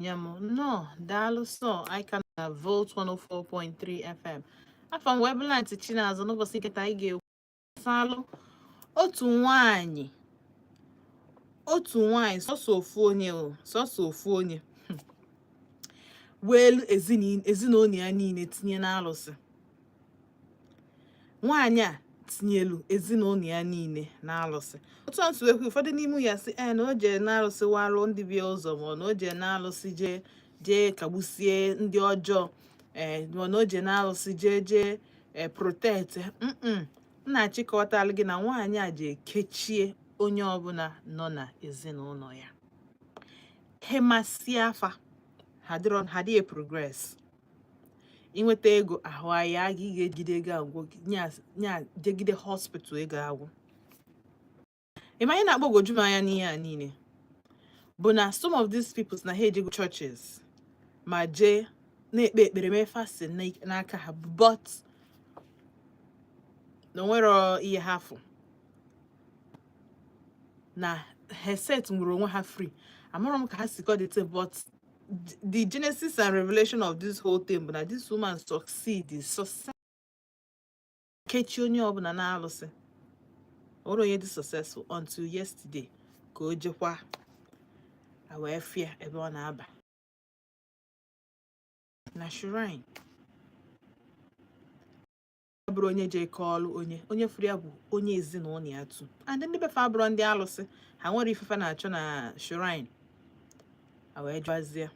ya m nnọọ daalụ so anyị ka na volt 104.3 fm afa m webulant chinaza n'ụbọsị nke taa anyị ga-ekwu gbasalụ otu nwanyị otu nwanyị sọsọ ofu onye o sọsọ ofu onye hmm. weelu ezinụnọ ya niile tinye n'alụsị nwaanyị a tinyelu ezinụnọ ya niile na alụsị otu e si kwuo ụfọdụ n'ime ha sị na o jee na alụsị warụ ndị be ya ụzọ ma na o jee na alụsị jee jee kagbusie ndị ọjọọ ee eh, ma na o jee na alụsị jee jee ee eh, protect m na-achịkọtara gị na nwaanyị a jee kechie onye ọbụla nọ na ezinụnọ ya ha emesịa afa ha dịrọ ha dịghị progress i nweta ego ahụ aya gị ị ga-ejide ego agwụ gị nya jegide hospital ego agwụ ị ma ihe na-agbagwoju m anya n'ihe a niile bụ na some of these people na ha ejego churches ma jee na-ekpe ekpere mee fasting n'aka ha but na o nwerọ ihe ha fụ na ha eset nwurọ onwe ha free amarọ m ka ha si kọdịte but the genesis and revelation of this whole thing bụ na this woman succeed success kechi onye ọbụla na alụsị o nwerọ onye dị successful until yesterday ka o jekwa wee fụ ya ebe ọ na-aba na shrine bụrụ onye jee kọọlụ onye onye fụrụ ya bụ onye ezinụlọ ya too and ndị be fa abụrọ ndị alụsị ha nwere ife fa na-achọ na shrine a wee jụazie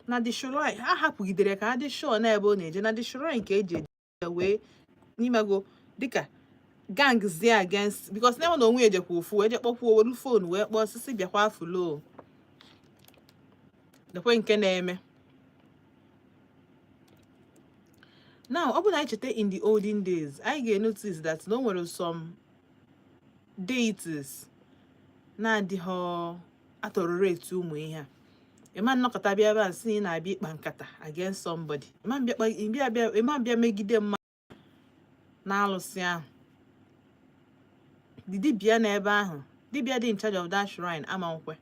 na the shrine ha hapụgidere ka ha dị sure na ebe ọ na-eje na the shrine ka eji eje wee n'imego dịka gang zie against because na enwe na onwe ejekwa ofu wee je kpọkwuo welu phone wee kpọọ ọ sị bịakwa fụlụ lekwa nke na-eme now ọ bụrụ na anyị cheta in the olden days anyị ga-enotice that na o nwere some deities na-adịghị atolerate ụmụ ihe a ị ma nnọkata bịa be ha sị na ị na-abịa ịkpa nkata against somebody ị ma bịa megide mma n'alụsị ahụ the dibịa nọ ebe ahụ dibịa dị in charge of that shrine ama nkwe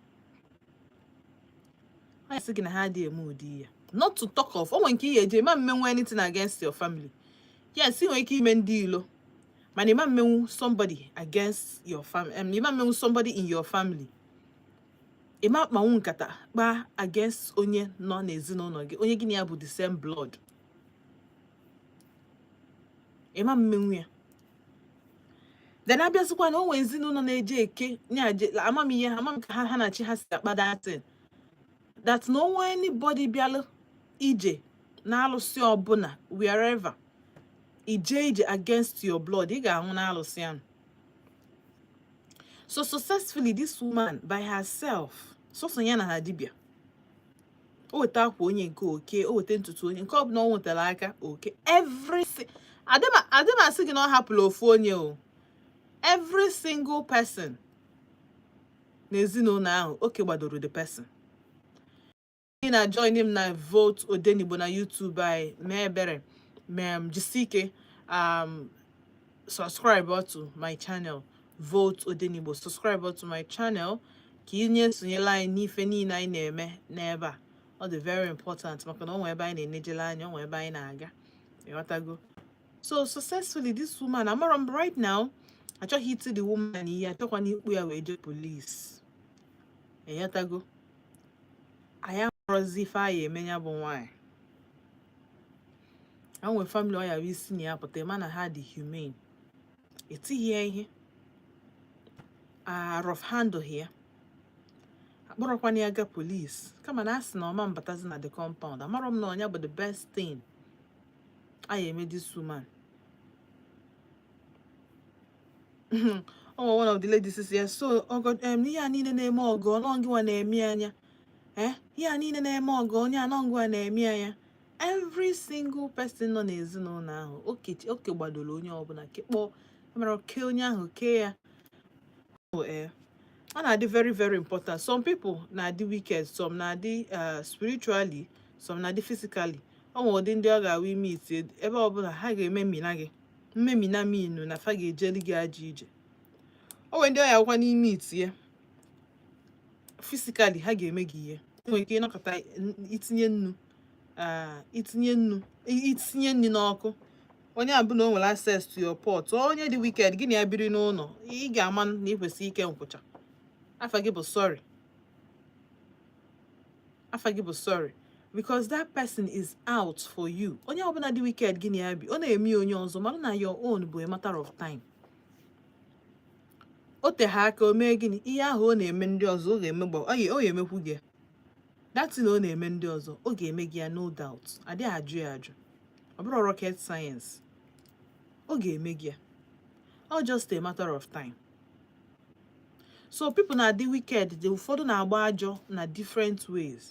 ọ sị gị na ha adị eme ụdị ya not to talk of onwe nke ihe eje ị ma mmenwu anything against your family yes ị nwere ike ime ndị ilo mana ị ma mmenwu somebody against your family um, ị ma mmenwu somebody in your family ị ma akpanwu nkata kpaa against onye nọ n'ezinụlọ gị onye gị na ya bụ the same blood ị ma mmenwu ya then a bịazikwa na o nwe ezinụlọ na-eje eke nye amamihe ha amam ka ha ha na chi ha si akpa datin that na o nwe anybody bịalụ ije na alụsị ọbụla wherever ije ije against your blood ị ga-anwụ na alụsị ahụ so successfully this woman by herself sọsọ ya na ha dibịa o weta akwa onye nke o kee o weta ntutu onye nke ọbụla o nwetara aka o kee everything adị m asị gị na ọ hapụla ofu onye o every single person n'ezinụlọ ahụ o kegbadoro the person ị na join m na vote odenigbo na YouTube anyị mee ebere mee m jisi ike um, subscribe to my channel vote odenigbo subscribe to my channel ka ị nye esonyela anyị n'ife niile anyị na-eme n'ebe a ọ dị very important maka na o nwee ebe anyị na-enejele anya o nwee ebe anyị na-aga ịghọtago so successfully this woman amara m right now achọghị iti the woman ihe achọkwana ịkpụ ya wee jee police ịghọtago anyị amarọzi ife anyị eme ya bụ nwaanyị o nwe family ọ ya-abụ i si na ya pụta ị ma na ha dị humane etighị ya ihe a rough handle ya akpụrọkwana ya ga police kama na a sị na ọ ma mbatazi na the compound amarọ m na ọ nya bụ the best thing a ya-eme this woman ọnwa one of the ladies sị ya so ọgọ ihe a niile na-eme ọgọ ọ na ngịwa na-eme anya eh ihe a niile na-eme ọgọ onye anọngịwa na-eme anya every single person nọ n'ezinụlọ ahụ o kegbadoro onye ọbụla kekpọ mara oke onye ahụ kee ya eh, ọ na-adị very very important some people na-adị wicked some na-adị eh, spiritually some na-adị physically o nwere ụdị ndị ọ ga-awụ i meet ebe ọbụla ha ga-ememina gị mmemina meaning na fa ga-ejeli gị ajọ ije o nwere ndị ọ ya-abụkwa na i meet ya physically ha ga-eme gị ihe e nwere ike ịnọkọta itinye nnu eh, itinye nnu i tinye nri n'ọkụ onye a bụ na o nwere access to your pot onye dị wicked gị na ya biri n'ụlọ ị ga-ama na ị kwesịrị ike nkwụcha afa gị bụ sorry afa gị bụ sorry because that person is out for you onye ọbụla dị wicked gị na ya bi ọ na-eme onye ọzọ mana na your own bụ a matter of time o teghị aka o mee gịnị ihe ahụ ọ na-eme ndị ọzọ ọ ga-emekwu gị that thing ọ na-eme ndị ọzọ ọ ga-eme gị ya no doubt adịghị ajụ ya ajụ ọ bụrọ rocket science ọ ga-eme gị ya ọ just a matter of time so people na-adị wicked ndị ụfọdụ na-agba ajọ na different ways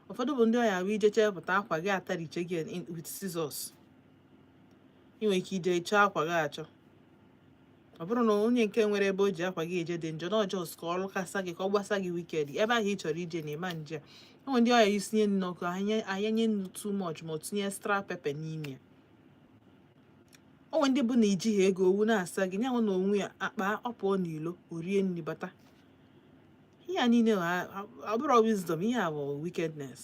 ụfọdụ bụ ndị ọ ya-abụ i je chepụta akwa gị atariche gị with scissors ị nwere ike ije chọọ akwa gị achọ ọ bụrọ na onye nke nwere ebe o ji akwa gị eje dị njọ na ọ just ka ọ lụkasa gị ka ọ gbasa gị wicked ebe ahụ ị chọrọ ije na ị ma nje o nwe ndị ọ ya i sinye nri n'ọkụ anya nye nnu too much ma ọ tinye extra pepper n'ime ya o nwe ndị bụ na i jighị ego owu na-asa gị nyanwa na o nwe ya n'akpa ọ pụọ n'ilo o rie nri bata ihe a niile ọ bụrọ wisdom ihe a bụ wickedness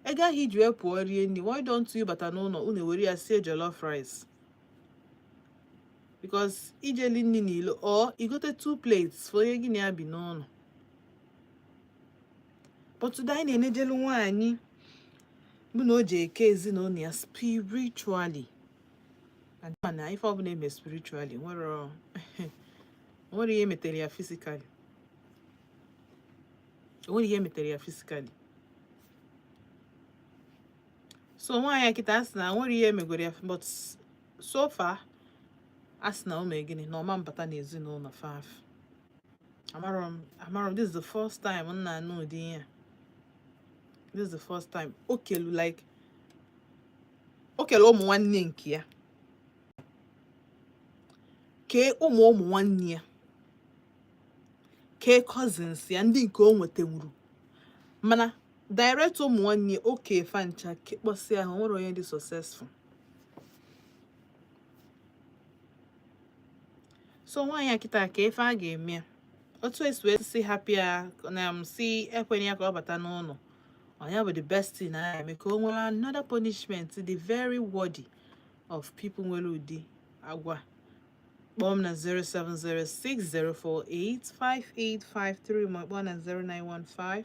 ego ahụ i ji wee pụọ rie nri why don't you bata n'ụlọ unu were ya sie jollof rice because ijeli nri n'ilo or igote two plates for onye gị na ya bi n'ụlọ but today anyị na-enejelu nwaanyị bụ na o ji eke ezinụlọ ya spiritually and ị ma na ife ọbụla e me spiritually nwere nwere ihe metere ya physically nwere ihe metere ya physically so nwaanyị a kịta a sị na nwere ihe e megoro ya but so far a sị na o mee gịnị na ọ ma mbata na ezinụlọ fa amarọ m amarọ m this is the first time m na-anụ ụdị ihe this is the first time o kelu like o kele ụmụ nwanne nke ya kee ụmụ ụmụ nwanne ya kee cousins ya ndị nke o nwetenwuru mana direct ụmụ nwanne o ke fa ncha kekpọsịa o nwerọ onye dị successful so nwaanyị a kịta ka ife a ga-eme otu e si wee sị hapụ ya na a sị ekwenye ya ka ọ bata n'ụlọ ọ nya bụ the best thing na eme ka o nwere another punishment dị very worthy of people nwere ụdị agwa kpọọ m na 07060485853 ma kpọọ na 0915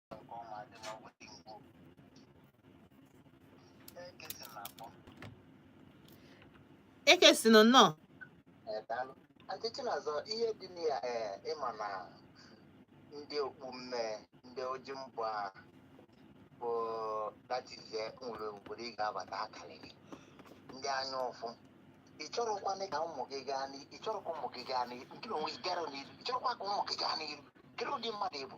ekesịnụ nnọọ ọzọ ihe dị na ya eh, ị ma na ndị okpu mmee ndị oji mbụ a bụ that is eh nwere obodo ị ga-abata akarịrị ndị anya ụfụ ị chọrọkwanị ka ụmụ gị gaa n'iru ị chọrọkwa ụmụ gị gaa n'iru nke onwe gị gara n'iru ị chọrọkwa ka ụmụ gị gaa n'iru kedu ụdị mmadụ ị bụ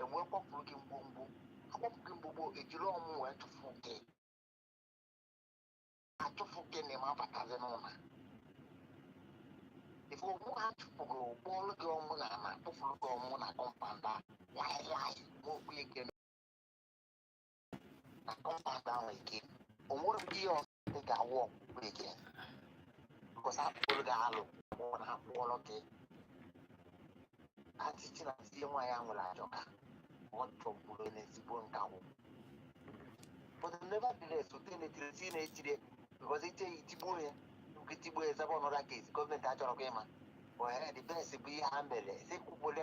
e wee kwapụrụ gị ngwongwo akwapụ gị ngwongwo ejiri ọmụ wee chụfụ gị achụfụ gị na ị ma abatazi n'ụlọ ife ọmụ ha chụpụrụ kpọọlụ gị ọmụ n'ana tụfuru gị ọmụ na kọmpaụnd a laị laị ma okwu ike I come back down again. O nwere mgbe ihe ọzọ ị ga-awụ ọkpụkpụ again. Because akpụrụ gị alụ mụọ na akpụọrọ gị. Atịtị na tie nwaanyị ahụ nwere ajọ aka. Ọ chọgburu n'ezigbo nkakwụ. But nevertheless, otu na-etiri eti na-etiri because i tie ya i tigbuo ya. Nke tigbuo ya zaba ọnọdụ case gọọmenti achọrọ gị ịma. Ohere the best bụ ihe ha mere. Eze kwukwele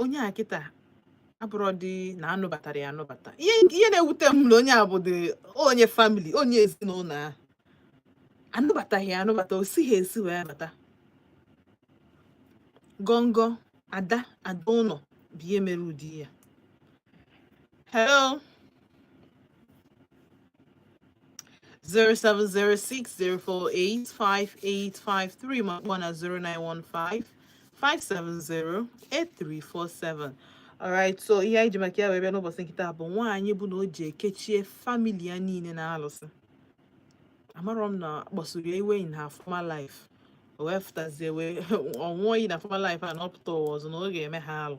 onye a kịta abụrọdị na anụbatara ya anụbata ihe ihe na-ewute m na onye a bụdị onye famili onye ezinụlọ ahụ anụbataghị ya anụbata o sighị esi wee bata gọngọ ada ada ụlọ bụ ihe mere ụdị ya hello 0706 048 5853 ma kpọọ na 0915 570 8347 alright so ihe anyị ji maka ya wee bịa n'ụbọchị nke taa bụ nwaanyị bụ na o jee kechie famili ya niile n'alụsị amarọ m na a kpasuru ya iwe in her former life o wee fụtazie wee ọ ṅụọ iyi na former life a na ọ pụta ụwa ọzọ na ọ ga-eme ha alụ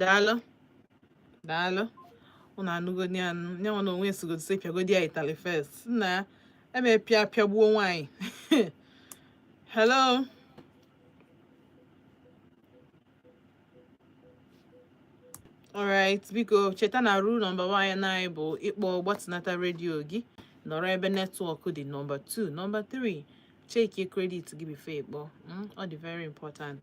daalụ daalụ ụnụ anụgodi anụ nya nwa na onwe esigodo si pịagodi ya ịtalị first nna ya eme pịa pịagbuo nwaanyị hello alright biko cheta na rule nọmba 1 anyị bụ ị kpọọ gbatinata redio gị nọrọ ebe netwọk dị nọmba 2 nọmba 3 chekie kredit gị before ị kpọọ hmm, ọ dị very important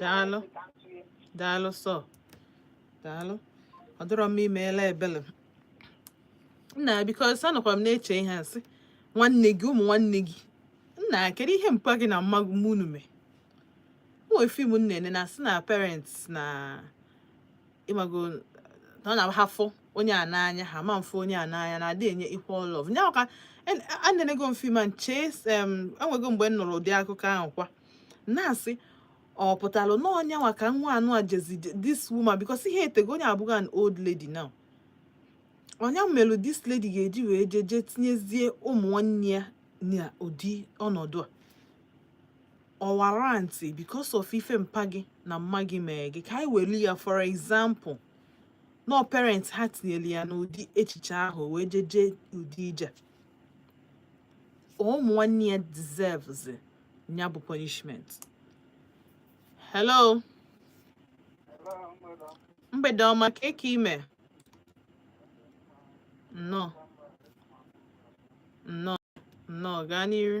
daalụ daalụ sọ daalụ ọ dịrọ m imeela ebele nna because anọkwa m na-eche ihe asị nwanne gị ụmụ nwanne gị nna kedu ihe mpa gị na mma mụ unu mee nwee fim m nene na asị na parents na ịmago na ọ na-ahafụ onye a n'anya ha ma afụ onye a n'anya na-adị enye equal love nya ka a na-enego mfe ma m chee enwego mgbe m nụrụ ụdị akụkọ ahụ kwa na-asị ọ pụtalụ na ọ nya nwa ka nwaanyị a jezi this woman because ihe etego onye a bụzi an old lady now ọ nya melụ this lady ga-eji wee jee jee tinyezie ụmụ nwanne ya na ụdị ọnọdụ a ọwara ntị because of ife mpa gị na mma gị mee gị ka anyị welu ya for example nọ parents ha tinyere ya n'ụdị echiche ahụ wee jeje ụdị ije ụmụ nwanne ya deserves ya bụ punishment hello mgbede ọma kee ka i mee nnọọ nnọọ nnọọ gaa n'iru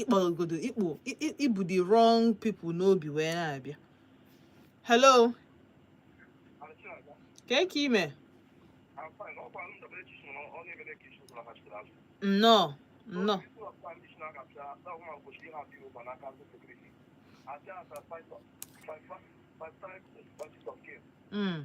ịkpọgodo ibu the wrong people n'obi wee na-abịa hello kee ka i mee nnọọ nnọọ Mm.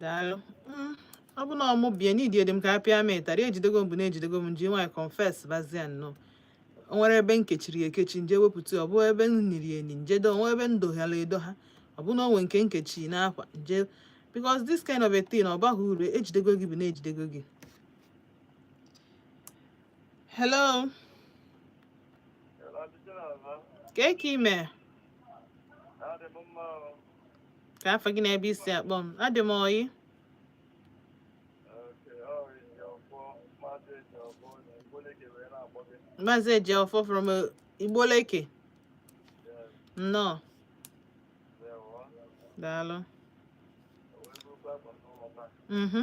daalụ mm, ọ bụ na ọ mụ bie n'idi edi m ka a pịa m ịtarị ejidego m bụ na ejidego m ji nwayọọ confess bazia nnọọ o nwere ebe m kechiri ekechi m je wepụta ọ bụ ebe m niri eni m je do o nwee ebe m doghara edogha ọ bụ na o nwee nke m kechi n'akwa m je because this kind of a thing ọ baghị uru ejidego gị bụ na ejidego gị hello kee ka i mee kee afa gị na ebe i si akpọ m adị m ọyị maazị ejiọfọ from uh, Obollo Eke nnọọ daalụ mhm.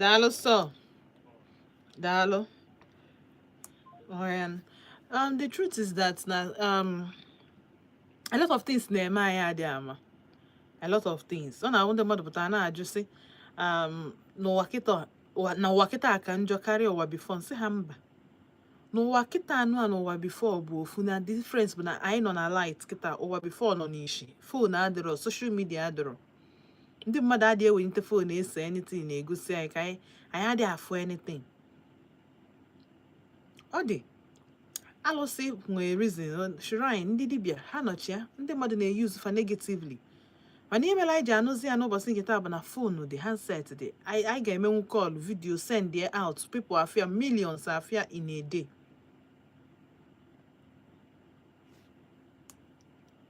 daalụ sọ daalụ ọya um, the truth is that na um, a lot of things na-eme anyị adị ama a lot of things ọ na-ahụ ndị mmadụ pụtara na-ajụ sị um, na ụwa kịta na ụwa kịta ka njọ karịa ụwa before m sị ha mba na ụwa kịta anụ a na ụwa before bụ ofu na difference bụ na anyị nọ na light kịta ụwa before nọ n'ishi phone adịrọ social media adịrọ ndị mmadụ adịghị ewelite phone ese anything na-egosi anyị ka anyị anyị adịghị afụ anything ọ dị alụsị nwee reason shrine ndị dibịa ha nọchi ya ndị mmadụ na-eyuzu fa negatively mana ihe mere anyị ji anụzi ya n'ụbọchị nke taa bụ na phone dị handset dị anyị ga-emenwu call video send ya out people afụ ya millions afụ ya in a day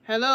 hello